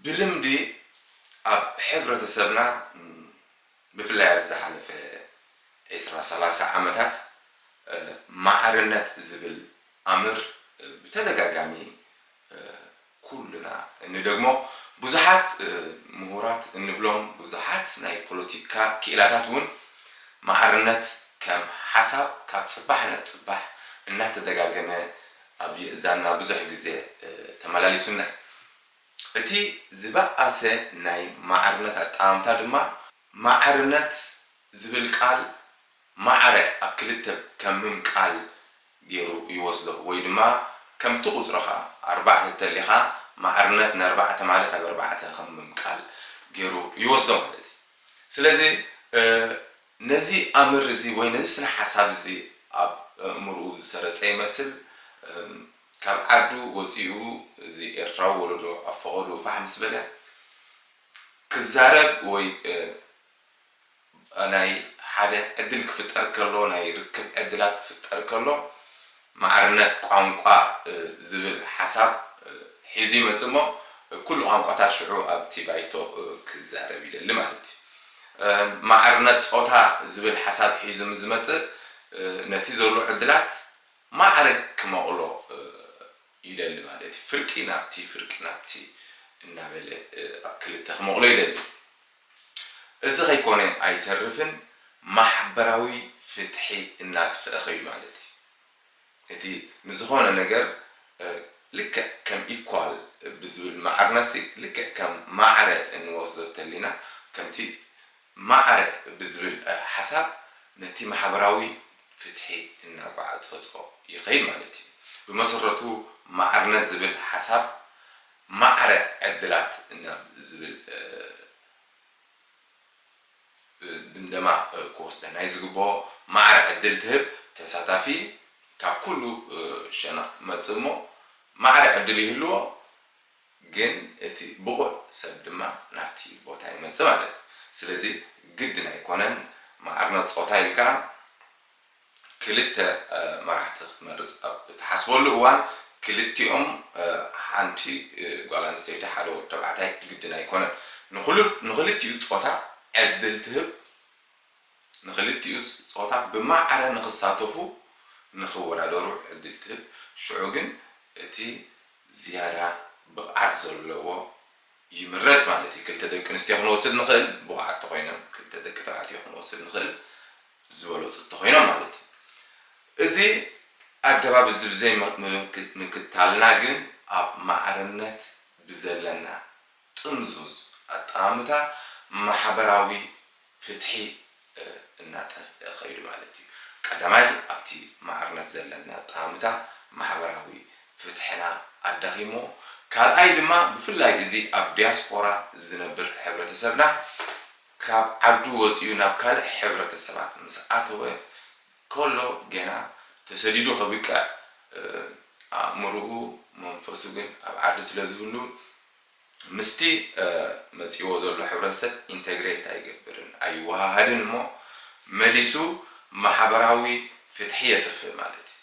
ብልምዲ ኣብ ሕብረተሰብና ብፍላይ ኣብዚ ዝሓለፈ ዕስራ ሰላሳ ዓመታት ማዕርነት ዝብል ኣምር ብተደጋጋሚ ኩልና እንደግሞ ብዙሓት ምሁራት እንብሎም ብዙሓት ናይ ፖለቲካ ክኢላታት እውን ማዕርነት ከም ሓሳብ ካብ ፅባሕ ናብ ፅባሕ እናተደጋገመ ኣብ ዛና ብዙሕ ግዜ ተመላሊሱና እዩ። እቲ ዝበኣሰ ናይ ማዕርነት ኣጠማምታ ድማ ማዕርነት ዝብል ቃል ማዕረ ኣብ ክልተ ከምም ቃል ገይሩ ይወስዶ ወይ ድማ ከምቲ ቁጽርኻ ኣርባዕተ እተሊኻ ማዕርነት ነርባዕተ ማለት ኣብ ኣርባዕተ ከምም ቃል ገይሩ ይወስዶ ማለት እዩ። ስለዚ ነዚ ኣምር እዚ ወይ ነዚ ስነ ሓሳብ እዚ ኣብ ኣእምርኡ ዝሰረጸ ይመስል እም ካብ ዓዱ ወጺኡ እዚ ኤርትራዊ ወለዶ ኣብ ፈቐድኡ ፋሕ ምስ በለ ክዛረብ ወይ ናይ ሓደ ዕድል ክፍጠር ከሎ ናይ ርክብ ዕድላት ክፍጠር ከሎ ማዕርነት ቋንቋ ዝብል ሓሳብ ሒዙ ይመጽእ እሞ ኩሉ ቋንቋታት ሽዑ ኣብቲ ባይቶ ክዛረብ ይደሊ ማለት እዩ። ማዕርነት ጾታ ዝብል ሓሳብ ሒዙ ምስ ዝመጽእ ነቲ ዘሎ ዕድላት ማዕረ ክመቕሎ ይደሊ ማለት እዩ። ፍርቂ ናብቲ ፍርቂ ናብቲ እናበለ ኣብ ክልተ ክመቕሎ ይደሊ። እዚ ከይኮነ ኣይተርፍን ማሕበራዊ ፍትሒ እናጥፈ ከይዱ ማለት እዩ። እቲ ንዝኾነ ነገር ልክዕ ከም ኢኳል ብዝብል ማዕርነሲ ልክዕ ከም ማዕረ እንወስዶ እተሊና ከምቲ ማዕረ ብዝብል ሓሳብ ነቲ ማሕበራዊ ፍትሒ እናጓዕጸጾ ይኸይድ ማለት እዩ። ብመሰረቱ ማዕርነት ዝብል ሓሳብ ማዕረ ዕድላት ናብ ዝብል ድምደማ ክወስደና እዩ ዝግበኦ። ማዕረ ዕድል ትህብ ተሳታፊ ካብ ኩሉ ሸነኽ ክመጽእ እሞ ማዕረ ዕድል ይህልዎ ግን እቲ ብቑዕ ሰብ ድማ ናብቲ ቦታ ይመጽእ ማለት እዩ። ስለዚ ግድን ኣይኮነን ማዕርነት ጾታ ኢልካ ክልተ መራሕቲ ክትመርጽ ኣብ እትሓስበሉ እዋን፣ ክልቲኦም ሓንቲ ጓል ኣንስተይቲ ሓደ ወዲ ተባዕታይ ግድን ኣይኮነን። ንኹሉ ንኽልቲኡ ጾታ ዕድል ትህብ፣ ንኽልቲኡ ጾታ ብማዕረ ንኽሳተፉ ንኽወዳደሩ ዕድል ትህብ፣ ሽዑ ግን እቲ ዝያዳ ብቕዓት ዘለዎ፣ ይምረጽ ማለት እዩ ክልተ ደቂ ኣንስትዮ ክንወስድ ንኽእል ብቑዓት ተኾይነን ክልተ ደቂ ተባዕትዮ ክንወስድ ንኽእል ዝበለጹ ተኾይኖም ማለት እዩ እዚ ኣገባብ እዚ ብዘይ ምክታልና ግን ኣብ ማዕርነት ብዘለና ጥምዙዝ ኣጠማምታ ማሕበራዊ ፍትሒ እናጠፍኣ ከይዱ ማለት እዩ። ቀዳማይ ኣብቲ ማዕርነት ዘለና ኣጠማምታ ማሕበራዊ ፍትሕና ኣዳኺምዎ፣ ካልኣይ ድማ ብፍላይ እዚ ኣብ ዲያስፖራ ዝነብር ሕብረተሰብና ካብ ዓዱ ወጺኡ ናብ ካልእ ሕብረተሰባት ምስ ኣተወ ከሎ ገና ተሰዲዱ ከብቅዕ ኣእምርኡ መንፈሱ ግን ኣብ ዓዱ ስለ ዝህሉ ምስቲ መጺእዎ ዘሎ ሕብረተሰብ ኢንተግሬት ኣይገብርን፣ ኣይወሃሃድን እሞ መሊሱ ማሕበራዊ ፍትሒ የጥፍእ ማለት እዩ።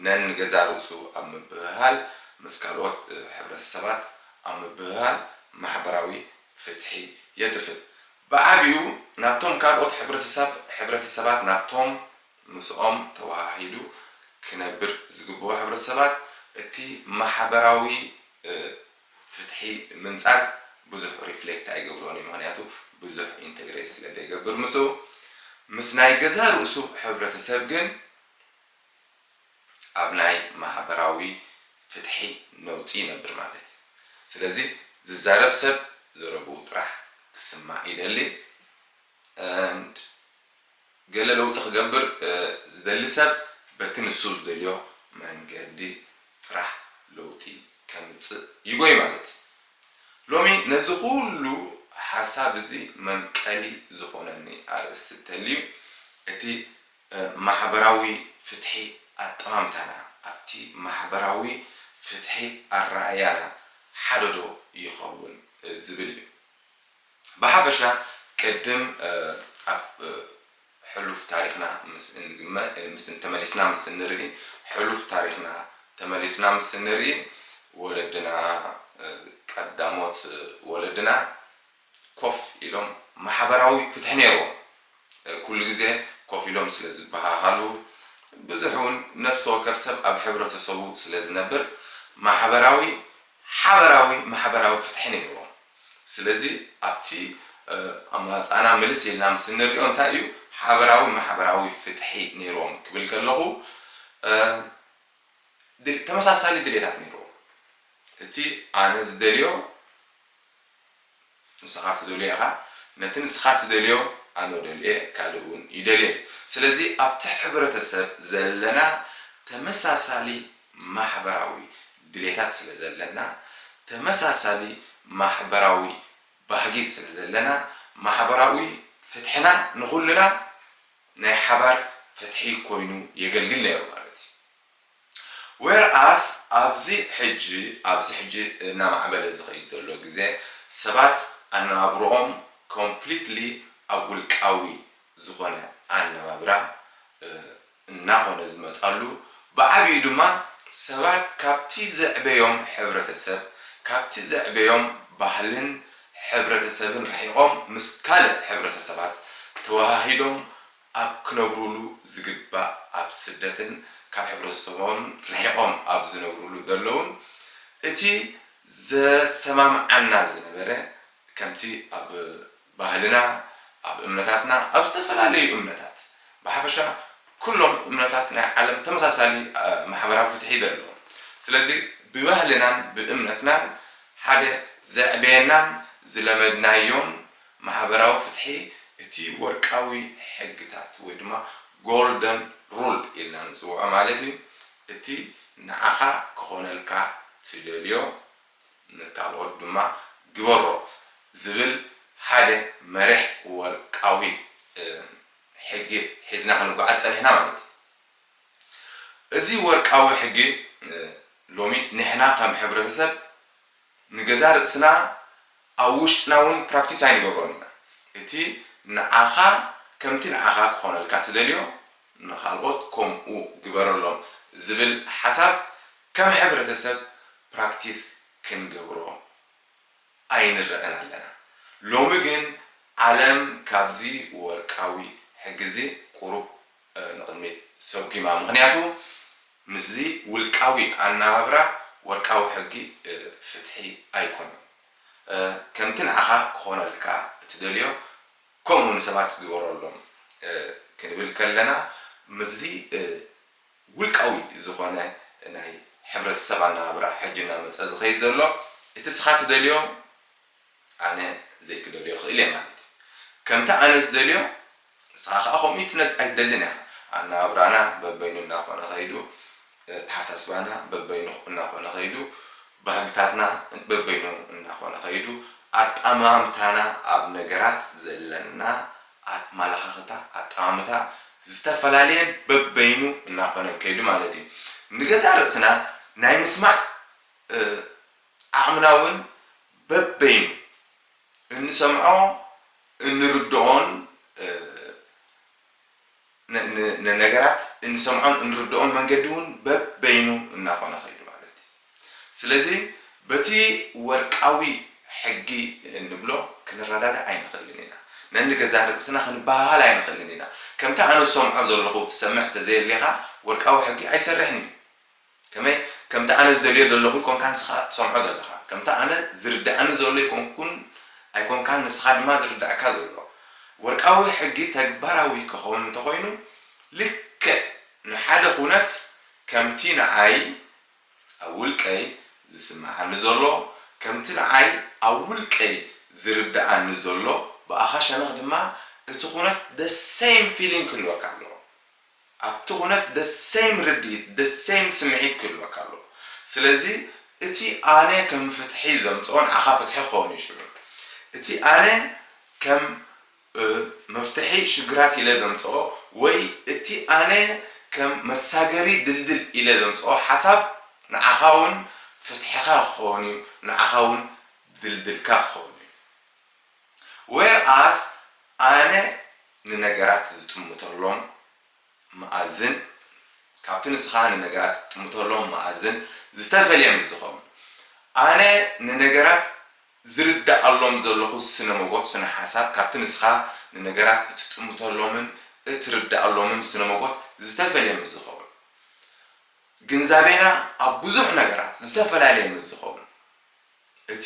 ነንገዛእ ርእሱ ኣብ ምብህሃል ምስ ካልኦት ሕብረተሰባት ኣብ ምብህሃል ማሕበራዊ ፍትሒ የጥፍእ። ብዓቢኡ ናብቶም ካልኦት ሕብረተሰብ ሕብረተሰባት ናብቶም ምስኦም ተወሃሂዱ ክነብር ዝግብኦ ሕብረተሰባት እቲ ማሕበራዊ ፍትሒ ምንጻግ ብዙሕ ሪፍሌክት ኣይገብሮን እዩ ምኽንያቱ ብዙሕ ኢንተግሬት ስለ ዘይገብር ምስኡ ምስ ናይ ገዛእ ርእሱ ሕብረተሰብ ግን ኣብ ናይ ማህበራዊ ፍትሒ ነውጺ ይነብር ማለት እዩ ስለዚ ዝዛረብ ሰብ ዘረብኡ ጥራሕ ክስማዕ ይደሊ and ገለ ለውጢ ክገብር ዝደሊ ሰብ በቲ ንሱ ዝደልዮ መንገዲ ጥራሕ ለውጢ ከምጽእ ይጎይ ማለት እዩ። ሎሚ ነዚ ኩሉ ሓሳብ እዚ መንቀሊ ዝኾነኒ ኣርእስቲ እተልዩ እቲ ማሕበራዊ ፍትሒ ኣጠማምታና ኣብቲ ማሕበራዊ ፍትሒ ኣረኣእያና ሓደዶ ይኸውን ዝብል እዩ። ብሓፈሻ ቅድም ኣብ ሕሉፍ ታሪኽና ምስ እንግመ ምስ ተመሊስና ምስ እንርኢ ሕሉፍ ታሪኽና ተመሊስና ምስ እንርኢ ወለድና ቀዳሞት ወለድና ኮፍ ኢሎም ማሕበራዊ ፍትሒ ኔርዎም ኩሉ ግዜ ኮፍ ኢሎም ስለ ዝበሃሃሉ ብዙሕ ውን ነፍሲ ወከፍ ሰብ ኣብ ሕብረተሰቡ ስለ ዝነብር ማሕበራዊ ሓበራዊ ማሕበራዊ ፍትሒ ኔርዎም። ስለዚ ኣብቲ ኣማራጻና ምልስ ኢልና ምስ እንሪኦ እንታይ እዩ ሓበራዊ ማሕበራዊ ፍትሒ ነይርዎም ክብል ከለኹ ተመሳሳሊ ድሌታት ነይርዎም። እቲ ኣነ ዝደልዮ ንስኻ ትደልዮ ኢኻ፣ ነቲ ንስኻ ትደልዮ ኣነ ደልየ ካልእ እውን ይደልየ እዩ። ስለዚ ኣብቲ ሕብረተሰብ ዘለና ተመሳሳሊ ማሕበራዊ ድሌታት ስለ ዘለና፣ ተመሳሳሊ ማሕበራዊ ባህጊ ስለ ዘለና፣ ማሕበራዊ ፍትሕና ንኹልና ናይ ሓባር ፍትሒ ኮይኑ የገልግል ነይሩ ማለት እዩ። ዌር ኣስ ኣብዚ ሕጂ ኣብዚ ሕጂ እናማዕበለ ዝኸይድ ዘሎ ግዜ ሰባት ኣነባብርኦም ኮምፕሊትሊ ኣብ ውልቃዊ ዝኾነ ኣነባብራ፣ እናኾነ ዝመጻሉ፣ ብዓቢኡ ድማ ሰባት ካብቲ ዘዕበዮም ሕብረተሰብ፣ ካብቲ ዘዕበዮም ባህልን ሕብረተሰብን ርሒቖም ምስ ካልእ ሕብረተሰባት ተወሃሂዶም ኣብ ክነብሩሉ ዝግባእ ኣብ ስደትን ካብ ሕብረተሰቦምን ርሒቖም ኣብ ዝነብሩሉ ዘለዉን እቲ ዘሰማምዓና ዝነበረ ከምቲ ኣብ ባህልና፣ ኣብ እምነታትና፣ ኣብ ዝተፈላለዩ እምነታት፣ ብሓፈሻ ኩሎም እምነታት ናይ ዓለም ተመሳሳሊ ማሕበራዊ ፍትሒ እዩ ዘለዎም። ስለዚ ብባህልናን ብእምነትናን ሓደ ዘዕበየናን ዝለመድናዮን ማሕበራዊ ፍትሒ እቲ ወርቃዊ ሕግታት ወይ ድማ Golden Rule ኢልና ንጽውዖ ማለት እዩ እቲ ንዓኻ ክኾነልካ ትደልዮ ንካልኦት ድማ ግበሮ ዝብል ሓደ መሪሕ ወርቃዊ ሕጊ ሒዝና ክንጓዓዝ ጸኒሕና ማለት እዩ። እዚ ወርቃዊ ሕጊ ሎሚ ንሕና ከም ሕብረተሰብ ንገዛእ ርእስና ኣብ ውሽጥና እውን ፕራክቲስ ኣይንገብሮን ኢና። እቲ ንዓኻ ከምቲ ንዓኻ ክኾነልካ ትደልዮ ንካልኦት ከምኡ ግበረሎም ዝብል ሓሳብ ከም ሕብረተሰብ ፕራክቲስ ክንገብሮ ኣይንረእን ኣለና ሎሚ ግን ዓለም ካብዚ ወርቃዊ ሕጊዚ ቁሩብ ንቅድሚት ሰጒማ ምኽንያቱ ምስዚ ውልቃዊ ኣናባብራ ወርቃዊ ሕጊ ፍትሒ ኣይኮነን ከምቲ ንዓኻ ክኾነልካ እትደልዮ ከምኡ ንሰባት ግበረሎም ክንብል ከለና ምስዚ ውልቃዊ ዝኾነ ናይ ሕብረተሰብ ኣነባብራ ሕጂ እናመጸ ዝኸይድ ዘሎ እቲ እስኻ ትደልዮ ኣነ ዘይክደልዮ ይኽእል እየ ማለት እዩ። ከምቲ ኣነ ዝደልዮ እስኻ ከኣ ከምኡ ኣይትነድ ኣይትደልን ኢኻ። ኣነባብራና በበይኑ እናኾነ ከይዱ፣ ኣተሓሳስባና በበይኑ እናኾነ ከይዱ፣ ባህግታትና በበይኑ እናኾነ ከይዱ፣ ኣጠማምታና ኣብ ነገራት ዘለና፣ ኣመላኻኽታ ኣጠማምታ ዝተፈላለየን በበይኑ እናኾነን ከይዱ ማለት እዩ። ንገዛእ ርእስና ናይ ምስማዕ ዓቕምና እውን በበይኑ እንሰምዖ እንርድኦን ንነገራት እንሰምዖን እንርድኦን መንገዲ እውን በበይኑ እናኾነ ከይዱ ማለት እዩ። ስለዚ በቲ ወርቃዊ ሕጊ እንብሎ ክንረዳዳእ ኣይንኽእልን ኢና። ነንገዛእ ርእስና ክንበሃሃል ኣይንኽእልን ኢና። ከምቲ ኣነ ዝሰምዖ ዘለኹ ትሰምዕ ተዘየሌኻ ወርቃዊ ሕጊ ኣይሰርሕን እዩ። ከመይ ከምቲ ኣነ ዝደልዮ ዘለኹ ኣይኮንካን ንስኻ እትሰምዖ ዘለኻ። ከምቲ ኣነ ዝርድኣኒ ዘሎ ኣይኮንኩን ኣይኮንካን ንስኻ ድማ ዝርድኣካ ዘሎ። ወርቃዊ ሕጊ ተግባራዊ ክኸውን እንተኾይኑ ልክዕ ንሓደ ኩነት ከምቲ ንዓይ ኣብ ውልቀይ ዝስመዓኒ ዘሎ ከምቲ ንዓይ ኣብ ውልቀይ ዝርድኣኒ ዘሎ ብኣኻ ሸነኽ ድማ እቲ ኩነት the same feeling ክህልወካ ኣለዎ። ኣብቲ ኩነት the same ርድኢት the same ስምዒት ክህልወካ ኣለዎ ስለዚ እቲ ኣነ ከም ፍትሒ ዘምጽኦ ንዓኻ ፍትሒ ክኸውን እዩ ሽዑ እቲ ኣነ ከም መፍትሒ ሽግራት ኢለ ዘምጽኦ ወይ እቲ ኣነ ከም መሳገሪ ድልድል ኢለ ዘምጽኦ ሓሳብ ንዓኻ ውን ፍትሕኻ ክኸውን እዩ ንዓኻ ውን ድልድልካ ክኸውን እዩ። Whereas ኣነ ንነገራት ዝጥምተሎም መኣዝን ካብቲ ንስኻ ንነገራት ትጥምተሎም መኣዝን ዝተፈልየ ምስ ዝኸውን፣ ኣነ ንነገራት ዝርደኣሎም ዘለኹ ስነ-ሞጎት፣ ስነ-ሓሳብ፣ ካብቲ ንስኻ ንነገራት እትጥምተሎምን እትርደኣሎምን ስነ-ሞጎት ዝተፈልየ ምስ ዝኸውን፣ ግንዛቤና ኣብ ብዙሕ ነገራት ዝተፈላለየ ምስ ዝኸውን፣ እቲ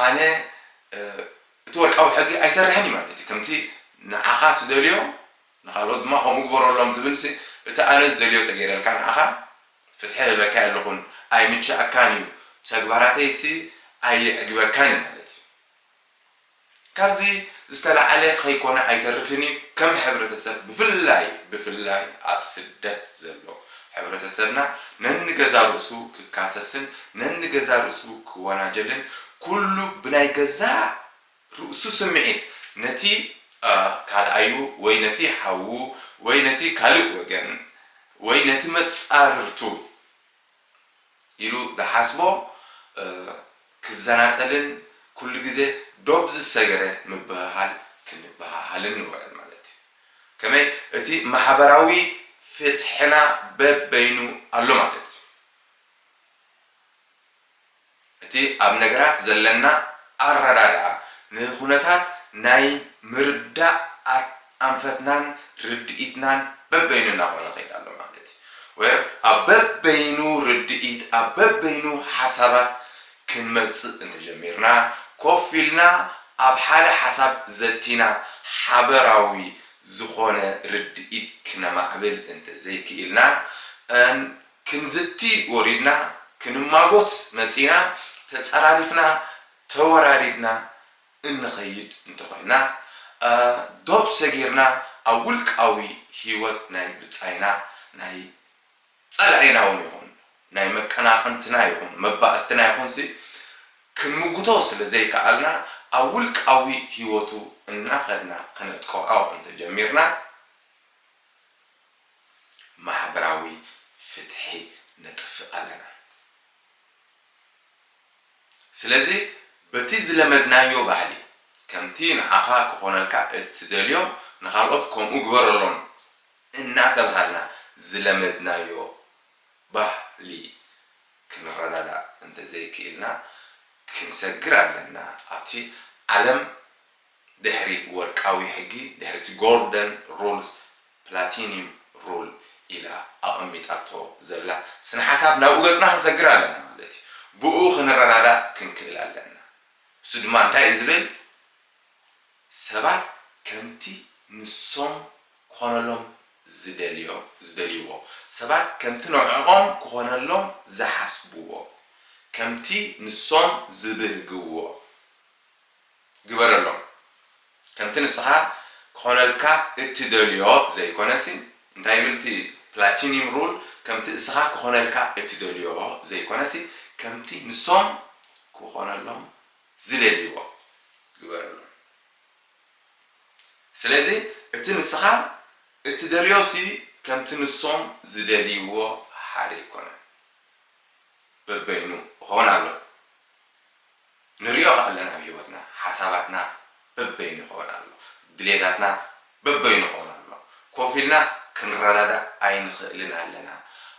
ኣነ እቲ ወርቃዊ ሕጊ ኣይሰርሕን እዩ ማለት እዩ። ከምቲ ንዓኻ ትደልዮ ንኻልኦት ድማ ከምኡ ግበረሎም ዝብልሲ እቲ ኣነ ዝደልዮ ተገይረልካ ንዓኻ ፍትሒ ህበካ የለኹን፣ ኣይምችኣካን እዩ፣ ተግባራተይሲ ኣየዕግበካን እዩ ማለት እዩ። ካብዚ ዝተላዓለ ከይኮነ ኣይተርፍን እዩ ከም ሕብረተሰብ ብፍላይ ብፍላይ ኣብ ስደት ዘሎ ሕብረተሰብና ነንገዛ ርእሱ ክካሰስን ነንገዛ ርእሱ ክወናጀልን ኩሉ ብናይ ገዛእ ርእሱ ስምዒት ነቲ ካልኣዩ ወይ ነቲ ሓዉ ወይ ነቲ ካልእ ወገን ወይ ነቲ መጻርርቱ ኢሉ ዝሓስቦ ክዘናጠልን ኩሉ ግዜ ዶብ ዝሰገረ ምብህሃል ክንበሃሃልን ንውዕል ማለት እዩ። ከመይ እቲ ማሕበራዊ ፍትሕና በበይኑ ኣሎ ማለት እዩ። እቲ ኣብ ነገራት ዘለና ኣረዳድኣ፣ ንኩነታት ናይ ምርዳእ ኣንፈትናን ርድኢትናን በበይኑ እናኾነ ይኸይድ ኣሎ ማለት እዩ። ወር ኣብ በበይኑ ርድኢት፣ ኣብ በበይኑ ሓሳባት ክንመጽእ እንተጀሚርና፣ ኮፍ ኢልና ኣብ ሓደ ሓሳብ ዘቲና ሓበራዊ ዝኾነ ርድኢት ክነማዕብል እንተዘይክኢልና፣ ን ክንዝቲ ወሪድና ክንማጎት መጺእና ተጻራሪፍና ተወራሪድና እንኸይድ እንተኾይና ዶብ ሰጊርና ኣብ ውልቃዊ ሂወት ናይ ብጻይና ናይ ጸላኢና ውን ይኹን ናይ መቀናቕንትና ይኹን መባእስትና ይኹንሲ ክንምጉቶ ስለ ዘይከኣልና ኣብ ውልቃዊ ሂወቱ እናኸድና ከነጥቅዖ እንተጀሚርና ማሕበራዊ ፍትሒ ነጥፍእ ኣለና። ስለዚ በቲ ዝለመድናዮ ባህሊ ከምቲ ንዓኻ ክኾነልካ እትደልዮ ንኻልኦት ከምኡ ግበረሎም እናተብሃልና ዝለመድናዮ ባህሊ ክንረዳዳእ እንተዘይክኢልና ክንሰግር ኣለና። ኣብቲ ዓለም ድሕሪ ወርቃዊ ሕጊ፣ ድሕሪ እቲ ጎልደን ሩልስ ፕላቲኒም ሩል ኢላ ኣቐሚጣቶ ዘላ ስነ ሓሳብ ናብኡ ገጽና ክንሰግር ኣለና ማለት እዩ። ብእኡ ክንረዳዳእ ክንክእል ኣለና። እሱ ድማ እንታይ እዩ ዝብል ሰባት ከምቲ ንሶም ክኾነሎም ዝደልዮ ዝደልይዎ፣ ሰባት ከምቲ ንዕኦም ክኾነሎም ዝሓስብዎ፣ ከምቲ ንሶም ዝብህግዎ፣ ግበረሎም ከምቲ ንስኻ ክኾነልካ እትደልዮ ዘይኮነሲ እንታይ ይብል እቲ ፕላቲኒም ሩል ከምቲ እስኻ ክኾነልካ እትደልዮ ዘይኮነሲ ከምቲ ንሶም ክኾነሎም ዝደልይዎ ግበረሎም ስለዚ እቲ ንስኻ እትደልዮሲ ከምቲ ንሶም ዝደልይዎ ሓደ ኣይኮነን በበይኑ እኾን ኣሎ። ንሪኦ ከኣለና ኣብ ሂወትና ሓሳባትና በበይኑ ይኮን ኣሎ ድሌታትና በበይኑ ይኮን ኣሎ ኮፍ ኢልና ክንረዳዳእ ኣይንክእልን ኣለና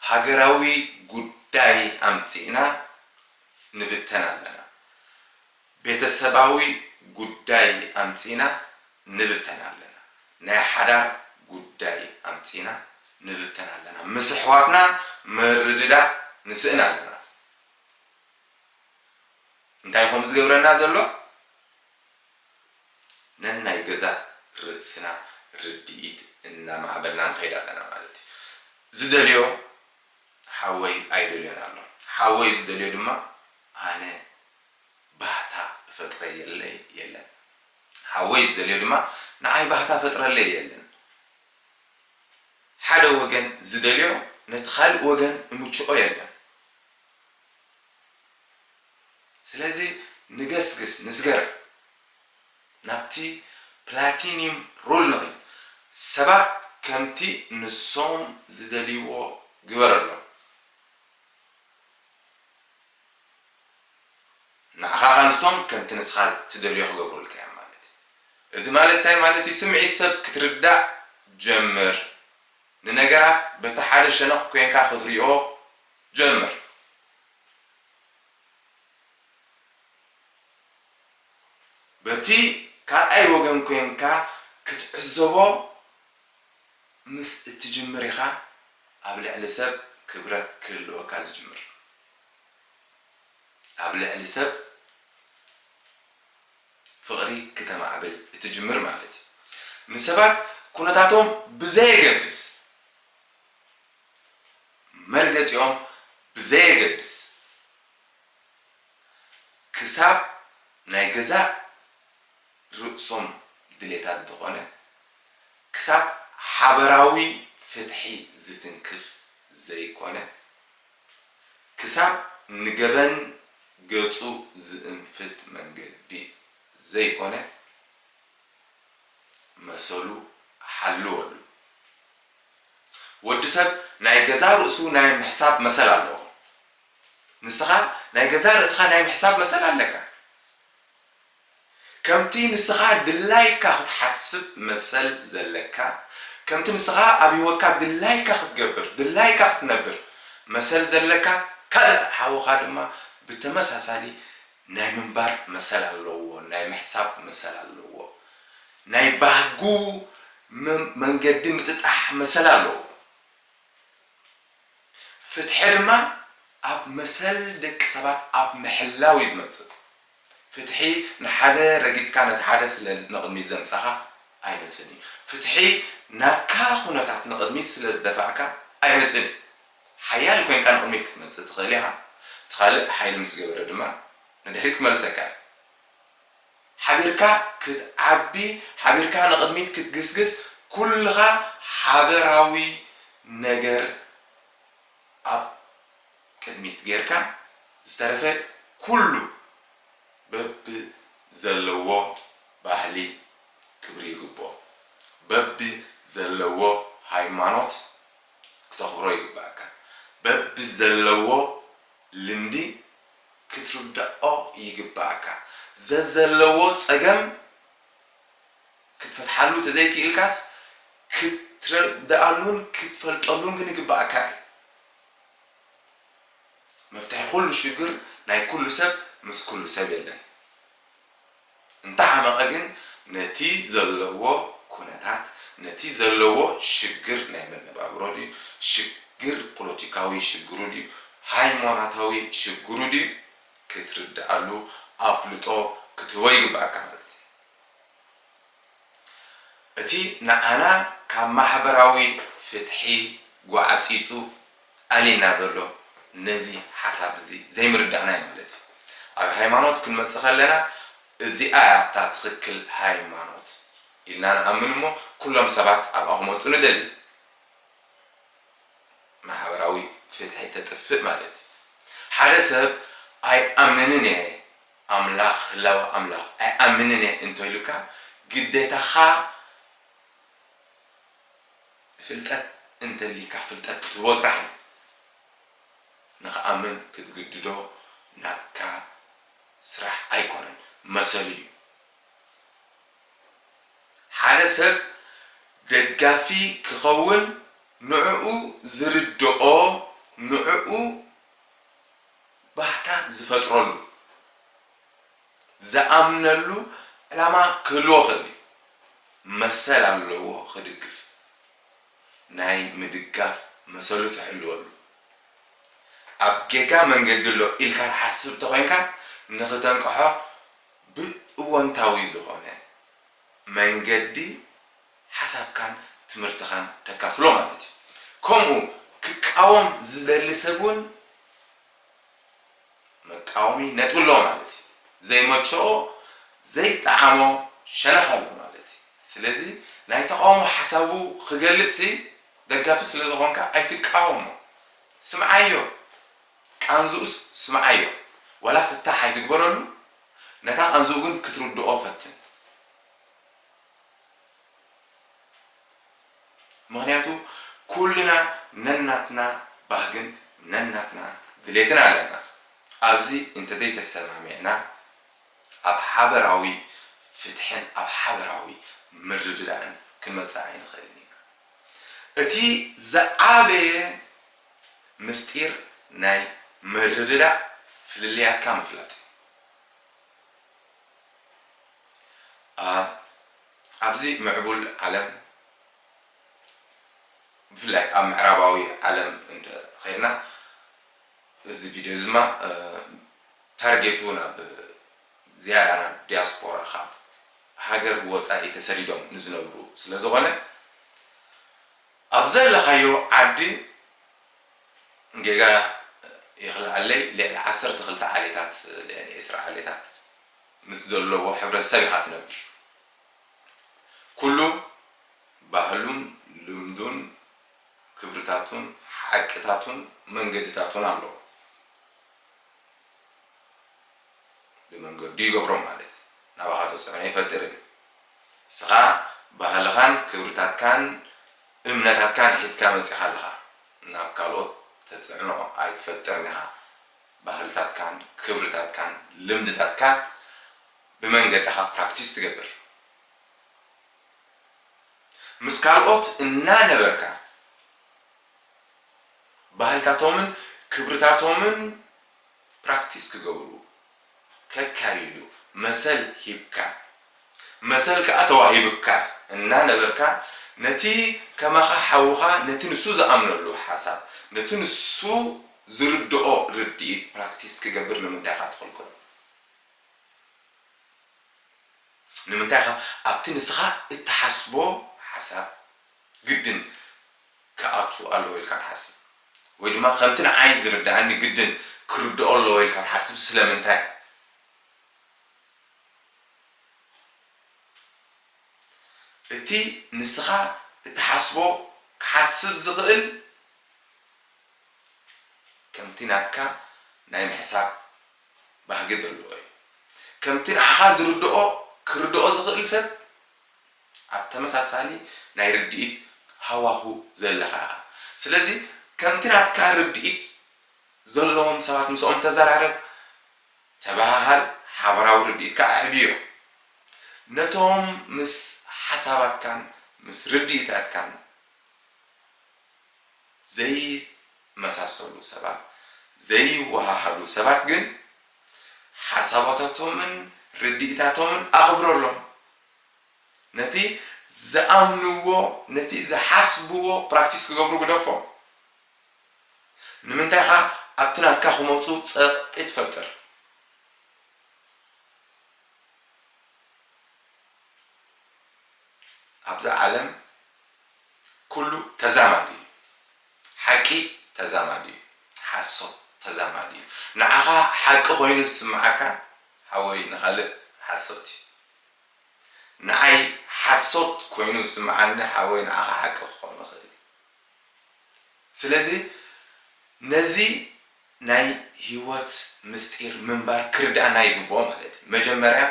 ሃገራዊ ጉዳይ ኣምጺእና ንብተን ኣለና ቤተሰባዊ ጉዳይ ኣምጺእና ንብተን ኣለና ናይ ሓዳር ጉዳይ ኣምጺእና ንብተን ኣለና ምስ ኣሕዋትና ምርድዳእ ንስእን ኣለና። እንታይ ኮን ዝገብረና ዘሎ ነናይ ገዛእ ርእስና ርድኢት እናማዕበልና ንኸይድ ኣለና ማለት እዩ። ዝደልዮ ሓወይ ኣይደልዮን ኣሎ። ሓወይ ዝደልዮ ድማ ኣነ ባህታ እፈጥረየለይ የለን። ሓወይ ዝደልዮ ድማ ንዓይ ባህታ ፈጥረለይ የለን። ሓደ ወገን ዝደልዮ ነቲ ካልእ ወገን እምችኦ የለን። ስለዚ ንገስግስ ንስገር ናብቲ ፕላቲኒዩም ሩል ንኺድ ሰባት ከምቲ ንሶም ዝደልይዎ ግበረሎም ንዓኻ ከኣ ንሶም ከምቲ ንስኻ ትደልዮ ክገብሩልካ እዮም ማለት እዩ እዚ ማለት እንታይ ማለት እዩ ስምዒት ሰብ ክትርዳእ ጀምር ንነገራት በቲ ሓደ ሸነኽ ኮንካ ክትሪኦ ጀምር በቲ ካልኣይ ወገን ኮንካ ክትዕዘቦ ምስ እትጅምር ኢኻ ኣብ ልዕሊ ሰብ ክብረት ክህልወካ ዝጅምር ኣብ ልዕሊ ሰብ ፍቕሪ ክተማዕብል እትጅምር ማለት እዩ ንሰባት ኩነታቶም ብዘየገድስ መርገጺኦም ብዘየገድስ ክሳብ ናይ ገዛእ ርእሶም ድሌታት እንተኾነ ክሳብ ሓበራዊ ፍትሒ ዝትንክፍ ዘይኮነ ክሳብ ንገበን ገጹ ዝእንፍት መንገዲ ዘይኮነ መሰሉ ሓልወሉ ወዲ ሰብ ናይ ገዛእ ርእሱ ናይ ምሕሳብ መሰል ኣለዎ። ንስኻ ናይ ገዛእ ርእስኻ ናይ ምሕሳብ መሰል ኣለካ። ከምቲ ንስኻ ድላይካ ክትሓስብ መሰል ዘለካ፣ ከምቲ ንስኻ ኣብ ህይወትካ ድላይካ ክትገብር፣ ድላይካ ክትነብር መሰል ዘለካ፣ ካልእ ሓውኻ ድማ ብተመሳሳሊ ናይ ምንባር መሰል ኣለዎ፣ ናይ ምሕሳብ መሰል ኣለዎ፣ ናይ ባህጉ መንገዲ ምጥጣሕ መሰል ኣለዎ። ፍትሒ ድማ ኣብ መሰል ደቂ ሰባት ኣብ ምሕላው እዩ ዝመጽእ። ፍትሒ ንሓደ ረጊጽካ ነቲ ሓደ ስለ ንቕድሚት ዘምጸኻ ኣይመጽእን እዩ። ፍትሒ ናትካ ኩነታት ንቕድሚት ስለ ዝደፋእካ ኣይመጽእን እዩ። ሓያል ኮይንካ ንቕድሚት ክትመጽእ ትኽእል ኢኻ፣ እቲ ካልእ ሓይሊ ምስ ገበረ ድማ ንድሕሪት ክመልሰካ እዩ። ሓቢርካ ክትዓቢ፣ ሓቢርካ ንቕድሚት ክትግስግስ፣ ኩልኻ ሓበራዊ ነገር ኣብ ቅድሚት ጌርካ ዝተረፈ ኩሉ በብዘለዎ ባህሊ ክብሪ ይግብኦ፣ በብዘለዎ ሃይማኖት፣ ክተኽብሮ ይግበኣካ በቢ ዘለዎ ልምዲ ክትርደኦ ይግበኣካ ዘዘለዎ ጸገም ክትፈትሓሉ ተዘይኪኢልካስ ክትረደኣሉን ክትፈልጠሉን ግን ይግበኣካ እዩ መፍትሒ ኩሉ ሽግር ናይ ኩሉ ሰብ ምስ ኩሉ ሰብ የለን። እንተሓመቐ ግን ነቲ ዘለዎ ኩነታት ነቲ ዘለዎ ሽግር ናይ መነባብሮ ድዩ ሽግር ፖለቲካዊ ሽግሩ ድዩ ሃይሞናታዊ ሽግሩ ድዩ ክትርድኣሉ ኣፍልጦ ክትህቦ ይግብኣካ ማለት እዩ። እቲ ንዓና ካብ ማሕበራዊ ፍትሒ ጓዕጺጹ ኣልዩና ዘሎ ነዚ ሓሳብ እዚ ዘይምርዳእና እዩ ማለት እዩ። ኣብ ሃይማኖት ክንመጽእ ከለና እዚኣ እያ እታ ትኽክል ሃይማኖት ኢልና ንኣምን እሞ ኩሎም ሰባት ኣብኣ ክመጹ ንደሊ። ማሕበራዊ ፍትሒ ተጥፍእ ማለት እዩ። ሓደ ሰብ ኣይኣምንን እየ፣ ኣምላኽ ህላወ ኣምላኽ ኣይኣምንን እየ እንቶ ኢሉካ ግዴታኻ ፍልጠት እንተሊካ ፍልጠት ክትህቦ ጥራሕ እዩ ንኽኣምን ክትግድዶ ናትካ ስራሕ ኣይኮነን መሰሉ እዩ ሓደ ሰብ ደጋፊ ክኸውን ንዕኡ ዝርድኦ ንዕኡ ባህታ ዝፈጥረሉ፣ ዝኣምነሉ ዕላማ ክህልዎ ክእል እዩ። መሰል ኣለዎ ክድግፍ። ናይ ምድጋፍ መሰሉ ትሕልወሉ። ኣብ ጌጋ መንገዲ ኣሎ ኢልካ ትሓስብ ተኮይንካ ንክተንቅሖ ብእወንታዊ ዝኮነ መንገዲ ሓሳብካን ትምህርትኻን ተካፍሎ ማለት እዩ። ከምኡ ክቃወም ዝደሊ ሰብ እውን መቃወሚ ነጥቢ ኣለዎ ማለት እዩ። ዘይመቸኦ፣ ዘይጠዓሞ ሸነኽ ኣሎ ማለት እዩ። ስለዚ ናይ ተቓውሞ ሓሳቡ ክገልጽሲ ደጋፊ ስለ ዝኾንካ ኣይትቃወሞ። ስምዓዮ። ቃንዝኡስ ስምዓዮ። ዋላ ፍታሕ ኣይትግበረሉ፣ ነታ ቃንዝኡ ግን ክትርድኦ ፈትን። ምኽንያቱ ኩልና ነናትና ባህግን ነናትና ድሌትን ኣለና። ኣብዚ እንተዘይተሰማሚዕና ኣብ ሓበራዊ ፍትሕን ኣብ ሓበራዊ ምርድዳእን ክንመጽእ ኣይንኽእልን ኢና። እቲ ዝዓበየ ምስጢር ናይ ምርድዳእ ፍልልያትካ ምፍላጥ እዩ። a ኣብዚ ምዕቡል ዓለም ብፍላይ ኣብ ምዕራባዊ ዓለም እንተ ኼድና እዚ ቪድዮ እዚ ድማ ታርጌቱ ናብ ዝያዳ ናብ ዲያስፖራ ካብ ሃገር ወጻኢ ተሰዲዶም ንዝነብሩ ስለ ዝኾነ ኣብ ዘለኻዮ ዓዲ ጌጋ ይኽልኣለይ ልዕሊ ዓሰርተ ክልተ ዓሌታት ልዕሊ ዕስራ ዓሌታት ምስ ዘለዎ ሕብረተሰብ ኢኻ ትነብር ኩሉ ባህሉን ልምዱን ክብርታቱን ሓቅታቱን መንገድታቱን ኣለዎ ብመንገዱ ይገብሮም ማለት ናባኻ ተፅዕኖ ይፈጥር እዩ ንስኻ ባህልኻን ክብርታትካን እምነታትካን ሒዝካ መጺኻ ኣለኻ ናብ ካልኦት ተጽዕኖ ኣይትፈጥርን ኢኻ ባህልታትካን ክብርታትካን ልምድታትካን ብመንገድኻ ፕራክቲስ ትገብር ምስ ካልኦት እናነበርካ ባህልታቶምን ክብርታቶምን ፕራክቲስ ክገብሩ ከካይዱ መሰል ሂብካ መሰል ከኣ ተዋሂብካ እናነበርካ ነቲ ከማኻ ሓውኻ ነቲ ንሱ ዝኣምነሉ ሓሳብ ነቲ ንሱ ዝርድኦ ርድኢት ፕራክቲስ ክገብር ንምንታይ ኢኻ ትኽልክሎ? ንምንታይ ኢኻ ኣብቲ ንስኻ እትሓስቦ ሓሳብ ግድን ክኣቱ ኣለዎ ኢልካ ትሓስብ? ወይ ድማ ከምቲ ንዓይ ዝርድኣኒ ግድን ክርድኦ ኣለዎ ኢልካ ትሓስብ? ስለምንታይ? እቲ ንስኻ እትሓስቦ ክሓስብ ዝኽእል ከምቲ ናትካ ናይ ምሕሳብ ባህጊ ዘለዎ እዩ። ከምቲ ንዓኻ ዝርድኦ ክርድኦ ዝኽእል ሰብ ኣብ ተመሳሳሊ ናይ ርድኢት ሃዋሁ ዘለኻ ኢኻ ስለዚ ከምቲ ናትካ ርድኢት ዘለዎም ሰባት ምስኦም ተዘራረብ ተበሃሃል ሓበራዊ ርድኢትካ ኣዕብዮ ነቶም ምስ ሓሳባትካን ምስ ርድኢታትካን ዘይመሳሰሉ ሰባት ዘይወሃሃዱ ሰባት ግን ሓሳባታቶምን ርድኢታቶምን ኣኽብረሎም ነቲ ዝኣምንዎ ነቲ ዝሓስብዎ ፕራክቲስ ክገብሩ ግደፎም። ንምንታይ ኢኻ ኣብቲ ናትካ ክመጹ ጸቕጢ ትፈጥር? ኣብዛ ዓለም ኩሉ ተዛማዲ እዩ። ሓቂ ተዛማዲ እዩ። ሓሶት ተዛማዲ እዩ። ንዓኻ ሓቂ ኮይኑ ዝስምዓካ ሓወይ ንኻልእ ሓሶት እዩ። ንዓይ ሓሶት ኮይኑ ዝስምዓኒ ሓወይ ንዓኻ ሓቂ ክኾን ይኽእል እዩ ስለዚ ነዚ ናይ ሂወት ምስጢር ምንባር ክርድኣና ይግብኦ ማለት እዩ መጀመርያ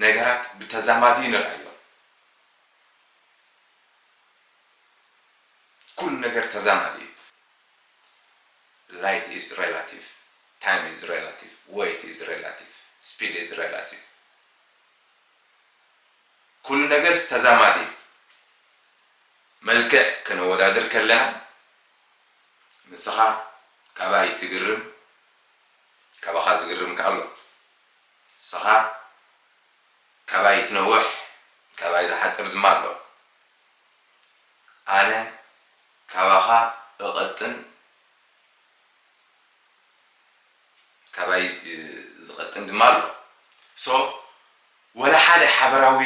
ነገራት ብተዛማዲ ንርኣዮም ኩሉ ነገር ተዛማዲ እዩ light is relative time is relative weight is relative speed is relative። ኩሉ ነገርስ ተዛማዲ እዩ። መልክዕ ከነወዳድር ከለና ንስኻ ካባይ ትግርም ካባኻ ዝግርም ከኣ ኣሎ። ንስኻ ካባይ ትነውሕ ካባይ ዝሓጽር ድማ ኣሎ። ኣነ ካባኻ እቐጥን። ካባይ ዝቀጥን ድማ ኣሎ so ወላ ሓደ ሓበራዊ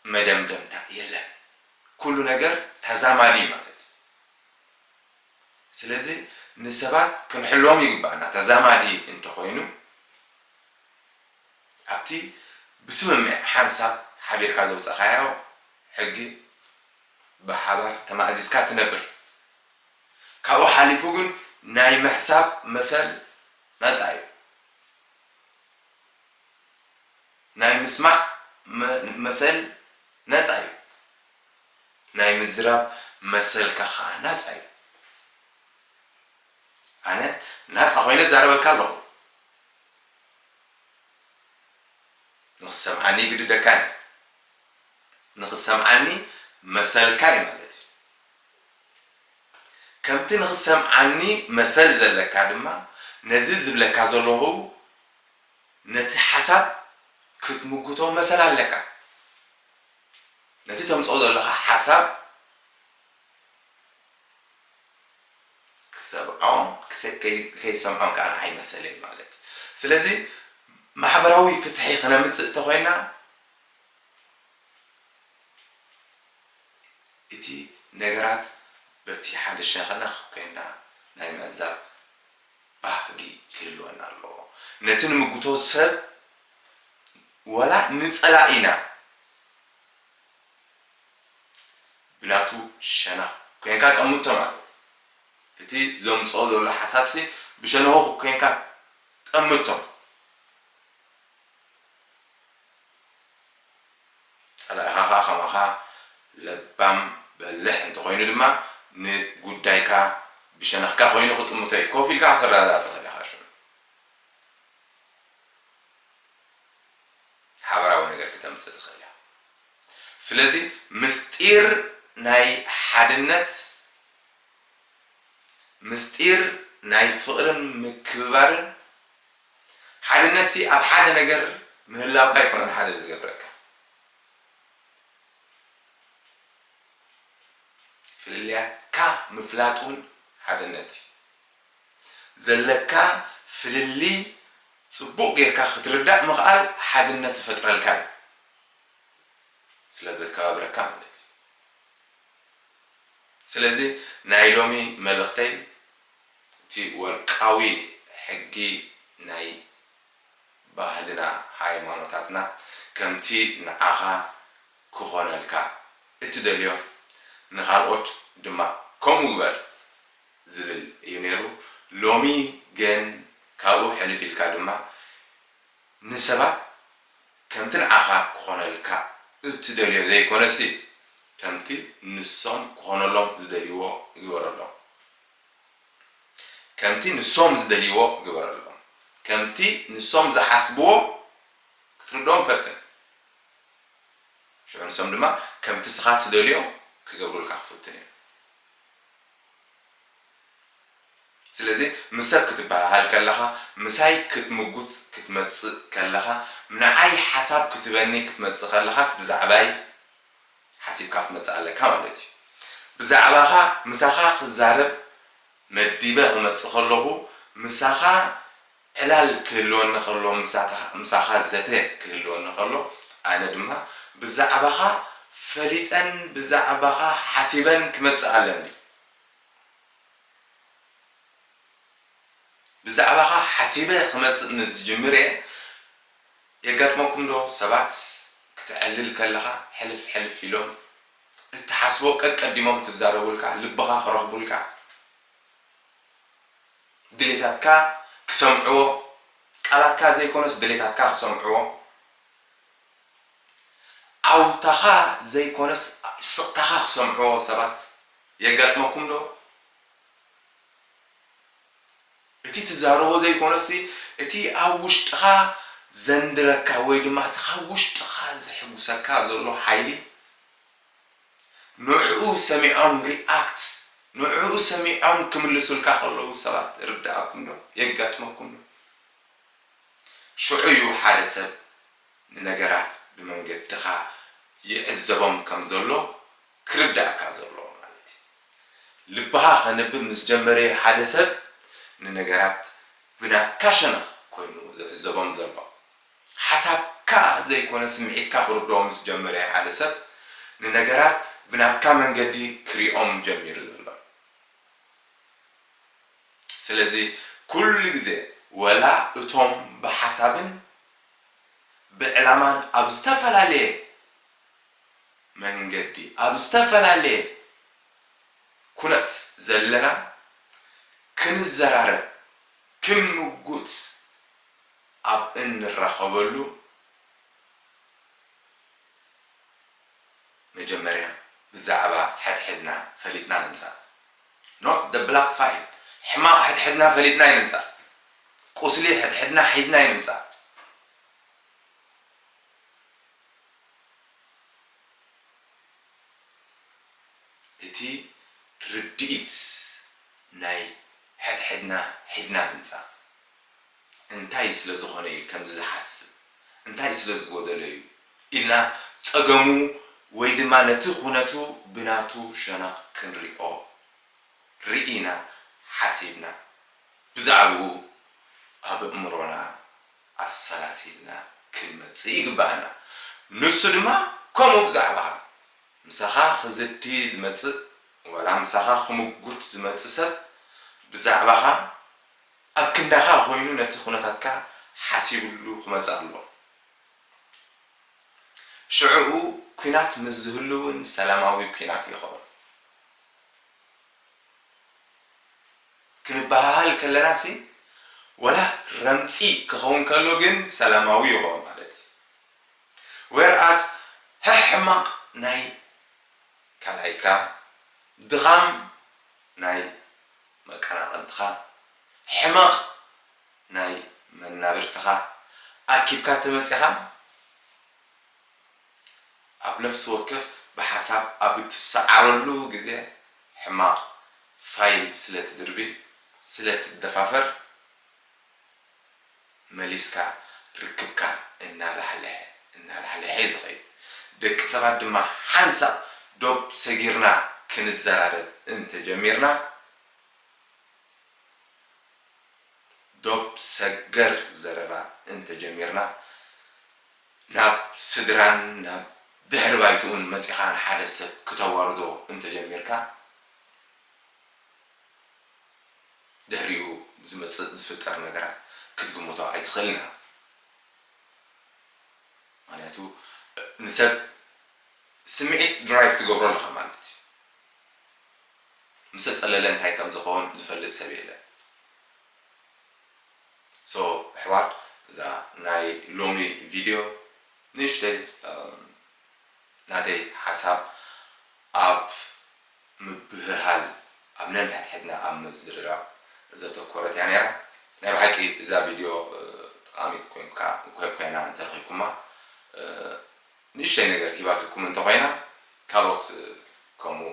መደምደምታ የለን ኩሉ ነገር ታዛማዲ እዩ ማለት እዩ ስለዚ ንሰባት ክንሕልዎም ይግባኣና ታዛማዲ እንተኮይኑ ኣብቲ ብስምምዕ ሓንሳብ ሓቢርካ ዘውጻካዮ ሕጊ ብሓባር ተማእዚዝካ ትነብር። ካብኡ ሓሊፉ ግን ናይ ምሕሳብ መሰል ናጻ እዩ። ናይ ምስማዕ መሰል ናጻ እዩ። ናይ ምዝራብ መሰልካ ከኣ ናጻ እዩ። ኣነ ናጻ ኮይነ እዛረበካ ኣለኹ። ንኽትሰምዓኒ ይግድደካ እዩ። ንኽትሰምዓኒ መሰልካ እዩ ማለት እዩ። ከምቲ ንኽትሰምዓኒ መሰል ዘለካ ድማ ነዚ ዝብለካ ዘለኹ ነቲ ሓሳብ ክትምጉቶ መሰል ኣለካ። ነቲ ተምጽኦ ዘለኻ ሓሳብ ክትሰምዖን ከይትሰምዖን ከኣ ንዓይ መሰለይ ማለት እዩ። ስለዚ ማሕበራዊ ፍትሒ ክነምጽእ እንተኾይና፣ እቲ ነገራት በቲ ሓደ ሸኸነኽ ኮይንና ናይ ምዕዛብ ባህጊ ክህልወና ኣለዎ። ነቲ ንምጉቶ ሰብ ዋላ ንጸላኢና ብናቱ ሸነኽ ኮይንካ ጠምቶ ማለት እቲ ዘምጽኦ ዘሎ ሓሳብሲ ብሸነኹ ኮይንካ ጠምቶ። ጸላኢኻኻ ከማኻ ለባም በሊሕ እንተኾይኑ ድማ ንጉዳይካ ብሸነኽካ ኮይኑ ክጥምቶ እዩ። ኮፍ ኢልካ ክትረዳዳእ ትኽእል ኢኻ ሽዑ። ሓበራዊ ነገር ክተምጽእ ትኽእል እያ። ስለዚ ምስጢር ናይ ሓድነት፣ ምስጢር ናይ ፍቕርን ምክብባርን ሓድነትሲ ኣብ ሓደ ነገር ምህላውካ ኣይኮነን ሓደ ዝገብረካ። ፍልልያትካ ምፍላጥ ውን ሓድነት እዩ። ዘለካ ፍልልይ ጽቡቕ ጌርካ ክትርዳእ ምኽኣል ሓድነት ዝፈጥረልካ እዩ። ስለ ዘከባብረካ ማለት እዩ። ስለዚ ናይ ሎሚ መልእኽተይ እቲ ወርቃዊ ሕጊ ናይ ባህልና ሃይማኖታትና ከምቲ ንዓኻ ክኾነልካ እትደልዮ ንኻልኦት ድማ ከምኡ ግበር ዝብል እዩ ነይሩ። ሎሚ ግን ካብኡ ሕልፍ ኢልካ ድማ ንሰባት ከምቲ ንዓኻ ክኾነልካ እትደልዮ ዘይኮነሲ ከምቲ ንሶም ክኾነሎም ዝደልይዎ ግበረሎም ከምቲ ንሶም ዝደልይዎ ግበረሎም። ከምቲ ንሶም ዝሓስብዎ ክትርድኦም ፈትን። ሽዑ ንሶም ድማ ከምቲ ንስኻ እትደልዮ ክገብሩልካ ክፍትኑ እዮም። ስለዚ ምስ ሰብ ክትበሃሃል ከለኻ፣ ምሳይ ክትምጉት ክትመጽእ ከለኻ፣ ንዓይ ሓሳብ ክትበኒ ክትመጽእ ከለኻስ ብዛዕባይ፣ ሓሲብካ ክትመጽእ ኣለካ ማለት እዩ። ብዛዕባኻ ምሳኻ ክዛረብ መዲበ ክመጽእ ከለኹ ምሳኻ ዕላል ክህልወኒ ከሎ ምሳኻ ዘተ ክህልወኒ ከሎ ኣነ ድማ ብዛዕባኻ ፈሊጠን ብዛዕባኻ ሓሲበን ክመጽእ ኣለኒ። ብዛዕባኻ ሓሲበ ክመጽእ ምስ ዝጅምር እየ የጋጥመኩም ዶ ሰባት ክተዕልል ከለኻ ሕልፍ ሕልፍ ኢሎም እትሓስቦ ቀቀዲሞም ክዛረቡልካ ልብኻ ክረኽቡልካ ድሌታትካ ክሰምዕዎ ቃላትካ ዘይኮነስ ድሌታትካ ክሰምዕዎ ዓውታኻ ዘይኮነስ ስቕታኻ ክሰምዕዎ ሰባት የጋጥመኩም ዶ? እቲ ትዛረቦ ዘይኮነስ እቲ ኣብ ውሽጥኻ ዘንድረካ ወይ ድማ እቲ ካብ ውሽጥኻ ዘሕጉሰካ ዘሎ ሓይሊ ንዕኡ ሰሚዖም react ንዕኡ ሰሚዖም ክምልሱልካ ከለዉ ሰባት ይርደኣኩም ዶ የጋጥመኩም ዶ ሽዑ እዩ ሓደ ሰብ ንነገራት ብመንገድኻ ይዕዘቦም ከም ዘሎ ክርደኣካ ዘለዎ ማለት እዩ ልብኻ ከንብብ ምስ ጀመረ እዩ ሓደ ሰብ ንነገራት ብናትካ ሸነኽ ኮይኑ ዝዕዘቦም ዘሎ ሓሳብካ ዘይኮነ ስምዒትካ ክርድኦ ምስ ጀመረ እዩ ሓደ ሰብ ንነገራት ብናትካ መንገዲ ክሪኦም ጀሚሩ ዘሎ ስለዚ ኩሉ ግዜ ወላ እቶም ብሓሳብን ብዕላማን ኣብ ዝተፈላለየ መንገዲ ኣብ ዝተፈላለየ ኩነት ዘለና ክንዘራረብ ክንምጉት ኣብ እንራኸበሉ መጀመርያ ብዛዕባ ሐድሕድና ፈሊጥና ንምፃእ not the black file ሕማቕ ሐድሕድና ፈሊጥና ኣይንምፃእ ቁስሊ ሐድሕድና ሒዝና ኣይንምፃእ። እቲ ርድኢት ናይ ሕድሕድና ሒዝና ምንጻፍ እንታይ ስለ ዝኾነ እዩ ከምዚ ዝሓስብ እንታይ ስለ ዝጎደሎ እዩ ኢልና ጸገሙ ወይ ድማ ነቲ ኩነቱ ብናቱ ሸነኽ ክንሪኦ ርኢና ሓሲብና ብዛዕብኡ ኣበእምሮና ኣሰላሲልና ክንመጽእ ይግብኣና። ንሱ ድማ ከምኡ ብዛዕባኻ። ምሳኻ ክዝቲ ዝመጽእ ዋላ ምሳኻ ክምጉት ዝመጽእ ሰብ ብዛዕባኻ ኣብ ክንዳኻ ኮይኑ ነቲ ኩነታትካ ሓሲብሉ ክመጽእ ኣለዎ። ሽዕኡ ኩናት ምስ ዝህሉ እውን ሰላማዊ ኩናት ይኸውን። ክንበሃሃል ከለናሲ ወላ ረምጺ ክኸውን ከሎ ግን ሰላማዊ ይኸውን ማለት እዩ where as ሕሕማቕ ናይ ካልኣይካ ድኻም ናይ መቀናቕንትኻ ሕመቕ ናይ መናብርትኻ ኣኪብካ ተመጺኻ ኣብ ነፍሲ ወከፍ ብሓሳብ ኣብ እትሰዓረሉ ግዜ ሕማቕ ፋይል ስለ ትድርቢ ስለ ትደፋፈር መሊስካ ርክብካ እናላሕልሐ እናላሕልሐ እዩ ዝኸይድ። ደቂ ሰባት ድማ ሓንሳእ ዶብ ሰጊርና ክንዘራረብ እንተ ጀሚርና ዶብ ሰገር ዘረባ እንተ ጀሚርና ናብ ስድራን ናብ ድሕሪ ባይትኡን መጺኻ ንሓደ ሰብ ክተዋርዶ እንተጀሚርካ፣ ድሕሪኡ ዝመጽእ ዝፍጠር ነገራት ክትግምቶ ኣይትኽእልን ኢኻ። ምኽንያቱ ንሰብ ስምዒት ድራይቭ ትገብሮ ኣለኻ ማለት እዩ። ምሰ ጸለለ እንታይ ከምዝኾን ዝፈልጥ ሰብ የለን። So ኣሕዋት እዛ ናይ ሎሚ ቪድዮ ንእሽተይ ናተይ ሓሳብ ኣብ ምብህሃል ኣብ ነንሕድሕድና ኣብ ምዝርራብ ዘተኮረት እያ ነይራ ናይ ብሓቂ እዛ ቪድዮ ጠቓሚት ኮይንካ ኮይና እንተ ረኺብኩማ ንእሽተይ ነገር ሂባትኩም እንተ ኮይና ካልኦት ከምኡ